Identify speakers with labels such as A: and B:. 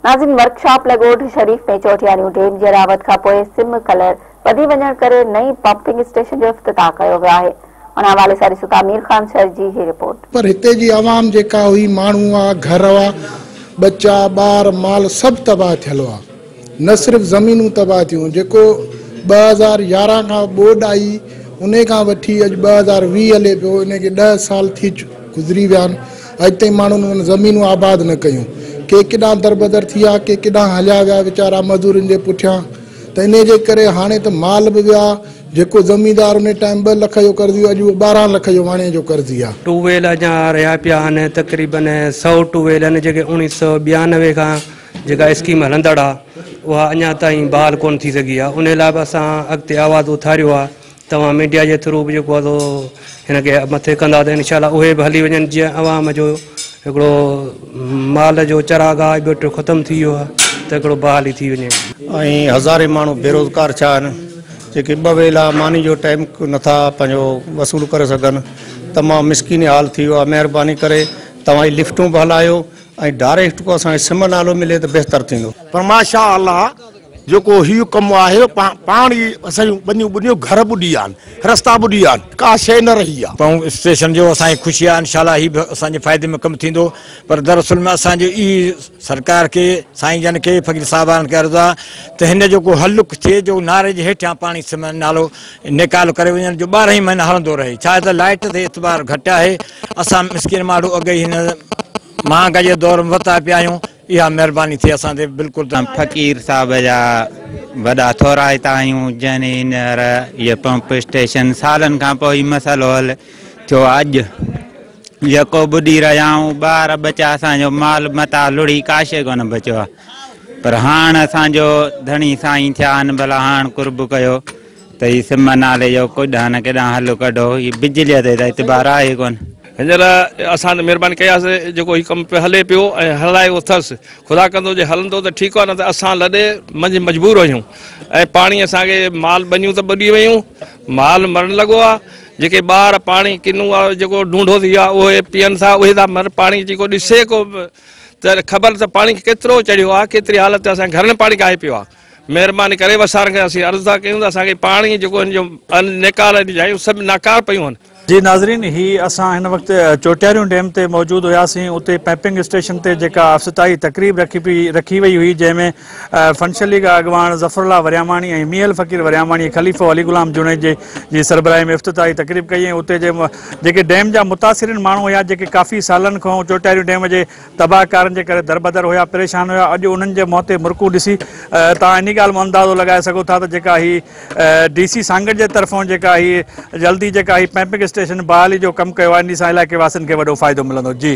A: ناظرين ورڪشاپ لاء ڳوٺ شريف ۾ چوٽياڻيون ڊيم جي راوت کانپوء سم ڪلر وڌي وڃڻ ڪري نئين پمپنگ اسٽيشن جو افتتاح ڪيو ويو آهي ان حوالي سان ڏسون ٿا مير خان شر جي هي رپورٽ. پر هتي جي عوام
B: جيڪا هئي ماڻهو هئا گهر هئا ٻچا ٻار مال سڀ تباهه ٿيل هئا نه صرف زمينون تباهه ٿيون جيڪو ٻه هزار يارهن کان ٻوڏ آئي انهي کان وٺي اڄ ٻه هزار ويهه هلي پيو انهي کي ڏهه سال ٿي گذري ويا آهن اڄ تائين ماڻهن انهن زمينون آباد نه ڪيون. ڪي ڪيڏانهن دربدر ٿيا، ڪي ڪيڏانهن هليا ويا ويچارا مزورين جي پٺيان. ته انهيء جي ڪري هاڻي ته مال به ويا. جيڪو زميندار انهيء ٽائيم ٻه لک جو قرضي هو، اڄ اهو ٻارهن لک جو واڻيء جو قرضي آهي. ٽويل اڃا رهيا
C: پيا آهن، تقريبن سؤ ٽويل آهن، جيڪي اوڻيهه سؤ ٻيانوي کان جيڪا اسڪيم هلندڙ آهي، اها اڃا تائين بحال ڪونه ٿي سگهي آهي. انهيء لاء به اسان اڳتي آواز اٿاريو آهي توهان ميڊيا جي ٿرو به جيڪو آهي سو هن کي مٿي ڪندا ته انشاء الله اهي به هلي وڃن جيئن عوام جو هڪڙو مال جو چراگاهه ٻيٽو ختم ٿي ويو آهي ته هڪڙو بحالي ٿي وڃي. ائين هزارين
D: ماڻهو بيروزگار ڇا آهن جيڪي ٻه ويلا ماني جو ٽائيم نٿا پنهنجو وصول ڪري سگهن تمام مسڪين حال ٿي ويو آهي مهرباني ڪري توهان هي لفٽون به هلايو ۽ ڊاريڪٽ ڪو اسان کي سم نالو ملي ته بهتر ٿيندو. پر ماشاء الله
E: جيڪو هيء ڪم آهي، پاڻ ئي اسان جون ٻنيون ٻڏيون، گهر ٻڏي ويا آهن، رستا ٻڏي ويا آهن، ڪا شيء نه رهي آهي. پنهون اسٽيشن جو اسان
F: کي خوشي آهي، انشاء الله هي به اسان جي فائدي ۾ ڪم ٿيندو، پر در اصل ۾ اسان جو ئي سرڪار کي، سائين جن کي، فقير صاحبان کي عرض آ ته هن جو ڪو حل ٿئي جو ناري جي هيٺيان پاڻي سمن نالو نيڪال ڪري وڃن جو ٻارهن ئي مهينا هلندو رهي، ڇا ته لائيٽ تي اعتبار گهٽ آهي، اسان مسڪين ماڻهو اڳ ئي هن مهانگائيء دور ۾ وتا پيا آهيون، اها مهرباني ٿئي اسان تي بلڪل. فقير صاحب
G: جا وڏا ٿورائتا آهيون جنهن هينئر هيء پمپ اسٽيشن سالن کان پوء ئي مسئلو حل ٿيو اڄ يڪو ٻڏي رهيا آهيون ٻار ٻچا اسان جو مال متاع لڙهي ڪاشي ڪونه بچيو آهي پر هاڻ اسان جو ڌڻي سائين ٿيا آهن ڀلا هاڻ قرب ڪيو ته هي سم نالي جو ڪڏهن نه ڪيڏانهن هل ڪڍو، هي بجليء تي ته اعتبار آهي ڪونه. هينئر
H: اسان ته مهرباني ڪئي آهي جيڪو هي ڪم پيو هلي پيو ۽ هلائي اٿس، خدا ڪندو جي هلندو ته ٺيڪ آهي نه ته اسان لڏي منجهه مجبور آهيون ۽ پاڻي اسان کي مال ٻنيون ته ٻڏي ويون، مال مرڻ لڳو آهي، جيڪي ٻار پاڻي ڪنو آهي جيڪو ڍونڍو ٿي ويا آهي اهي پيئن ٿا اهي ٿا مرن پاڻي جي ڪو ڏسي ڪو ته خبر ته پاڻي ڪيترو چڙهيو آهي ڪيتري حالت اسان جي گهرن پاڻي ڪاهي پيو آهي. مهرباني ڪري وسارن کي اسين عرض ٿا ڪيون ته اسان کي پاڻي جيڪو هن جو نيڪال جي جايون سڀ ناڪار پيون هن. جي ناظرين هي
I: اسان هن وقت چوٽياريون ڊيم تي موجود هياسين اتي پمپنگ اسٽيشن تي جيڪا افتتاحي تقريب رکي پئي رکي وئي هئي جنهن ۾ فنشل ليگ اڳواڻ ظفر الله ورياماڻي ۽ ميل فقير ورياماڻي خليفو علي غلام جوڻيجي جي سربراهي ۾ افتتاحي تقريب ڪئي ۽ اتي جي جيڪي ڊيم جا متاثرين ماڻهو هيا جيڪي ڪافي سالن کان چوٽياريون ڊيم جي تباهه ڪارين جي ڪري دربدر هيا، پريشان هيا، اڄ انهن جي منهن تي مرڪون ڏسي توهان انهي ڳالهه مان اندازو لڳائي سگهو ٿا ته جيڪا هي ڊي سي سانگهڙ جي طرفون جيڪا هي جلدي جيڪا هي پمپنگ اسٽيشن بحالي جو ڪم ڪيو آهي انهي سان علائقي واسين کي وڏو فائدو ملندو. جي.